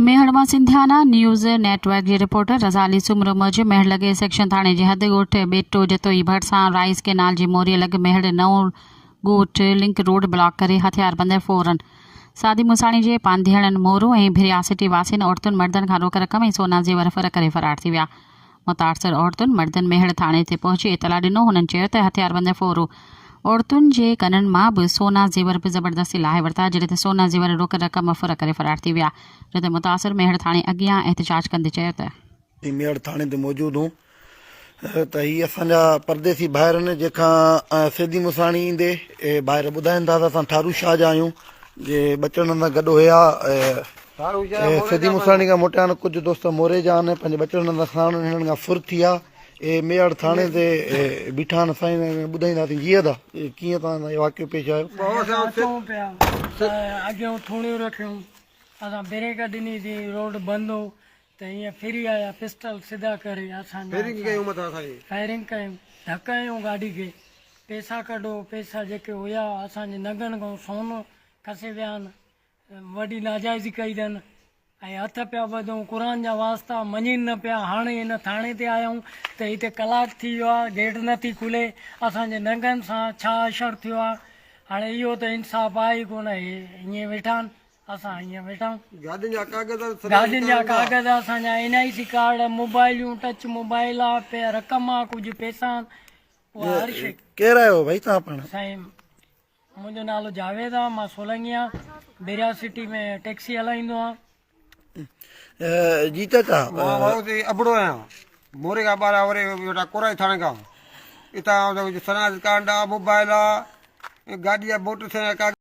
ميهڙ مان Sindhiana news network جي reporter Raza Ali Soomro موجب ميهڙ لڳ سيڪشن ٿاڻي جي حد ڳوٺ ٻيٽو جتوئي ڀرسان رائيس ڪينال جي موريء لڳ ميهڙ نئون ڳوٺ لنڪ روڊ بلاڪ ڪري هٿياربندن فورن سادي موساڻي جي پانڌيئڙن مورو ۽ ڀريا سٽي واسين عورتن مردن کان روڪ رقم ۽ سونا زيور ڦر ڪري فرار ٿي ويا متاثر عورتن مردن ميهڙ ٿاڻي تي پهچي اطلاع ڏنو هنن چيو ته هٿياربند ڦورو عورتن جي ڪنن مان به سونا زيور به زبردستي لاهي ورتا جڏهن ته سونا زيور روڪ رقم ڦر ڪري فرار ٿي ويا جو ته متاثر ميهڙ ٿاڻي اڳيان احتجاج ڪندي چيو ته. جي ميهڙ ٿاڻي تي موجود هون ته هي اسان جا پرديسي ڀائر آهن جنهن کان سيدي مساڻي ايندي اهي ڀائر ٻڌائين ٿا ته اسان ٺارو شاهه جا آهيون جي ٻچڙن سان گڏ هيا اي سڌي ملتان کان موٽيان ڪجهه دوست موري جا آن پنهنجي ٻچڙن هنڌ ساڻن هنن کان ڦر ٿي ها اي ميهڙ ٿاڻي تي بيٺا آن سائين ۽ ٻڌائيندا ٿي جي ادا ڪيئن توهان سان اهو واقعو پيش آيو اسان پيا اڳيون ٿوڻيون رکيون اسان بريڪ ڏني سي روڊ بند هو ته هيئن ڦري آيا پسٽل سڌا ڪري اسان فائرنگ ڪيون مٿان سائين فائرنگ ڪيون ڌڪ هنيون گاڏي کي پيسا ڪڍو پيسا جيڪي هيا اسان جي نگن کان سون کسي ويا آن وڏي ناجائزي ڪئي اٿن ۽ هٿ پيا ٻڌون قرآن جا واسطا مڃين نه پيا هاڻي هن ٿاڻي تي آيائون ته هتي ڪلاڪ ٿي ويو آهي گيٽ نه ٿي کلي اسان جي ننگن سان ڇا اشر ٿيو آهي هاڻي اهو ته انصاف آهي ئي ڪونه هي ائين ويٺا آهن اسان ائين ويٺا آهيون گاڏين جا ڪاغذ اسان جا گاڏين جا ڪاغذ اسان جا اين آئي سي ڪارڊ موبائليون ٽچ موبائل آ رقم آ ڪجهه پيسا آهن اها هر شي ڪير آهيو ڀائي توهان پاڻ سائين منهنجو نالو جاويد آ مان سولنگي آن بيرياز سٽي ۾ ٽيڪسي هلائيندو آن. جيتت آ. مان وارو تي ابڙو آهيان موري کان ٻاهر آوري ويٺا ڪورائي ٿاڻي کان اتان آئون ٿو سناج ڪارڊ آ موبائل آ گاڏي آ موٽر سائيڪل ڪاغذ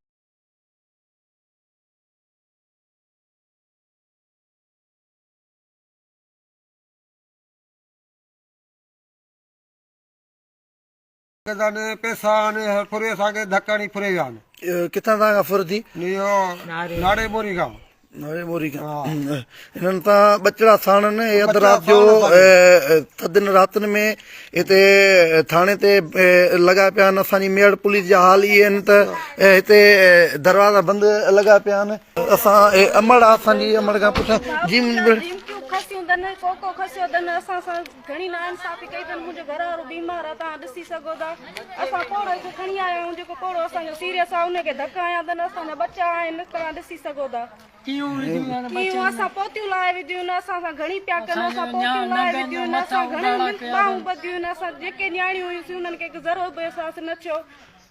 گدن پيسا آن ڦري اسان کي ڌڪ هڻي ڦري ويا آن. ڪٿان توهان کان ڦر ٿي؟ اهو ناڙي موري کان. ناڙي موري کان هنن تان ٻچڙا ساڻن اهي اڌ رات جو ٿڌين راتن ۾ هتي ٿاڻي تي لڳا پيا آهن اسان جي ميڙ پوليس جا حال اهي آهن ته هتي دروازا بند لڳا پيا آهن اسان امڙ آ اسان جي امڙ کان پڇا جي منهنجي ڀيڻ گهڻي ناانصافي ڪئي اٿن منهنجو گهر وارو بيمار آهي توهان ڏسي سگهو ٿا اسان پوڙهو کي کڻي آيا آهيون جيڪو پوڙهو اسان جو سيريس آهي ان کي ڌڪ هنيا اٿن اسان جا ٻچا آهن توهان ڏسي سگهو ٿا ڪيون اسان پوتيون لاهي وڌيون نه اسان سان گهڻي پيا ڪن اسان پوتيون لاهي وڌيون نه اسان گهڻيون ٻانهون ٻڌيون نه اسان جيڪي نياڻيون هيون سي انهن کي ذرو به احساس نه ٿيو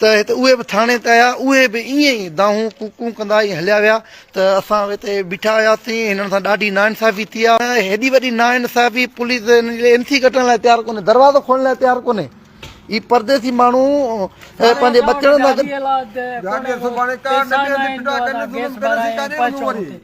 ته هت اهي به ٿاڻي ته آيا، اهي به ائين ئي دانهون ڪون ڪون ڪندا ائين هليا ويا ته اسان هتي بيٺا هياسين، هنن سان ڏاڍي ناانصافي ٿي آ، هيڏي وڏي ناانصافي، پوليس هنن جي لاء ايم سي ڪٽڻ لاء تيار ڪونهي، دروازو کولڻ لاء تيار ڪونهي، هي پرديسي ماڻهو پنهنجي ٻچڙن سان گڏ.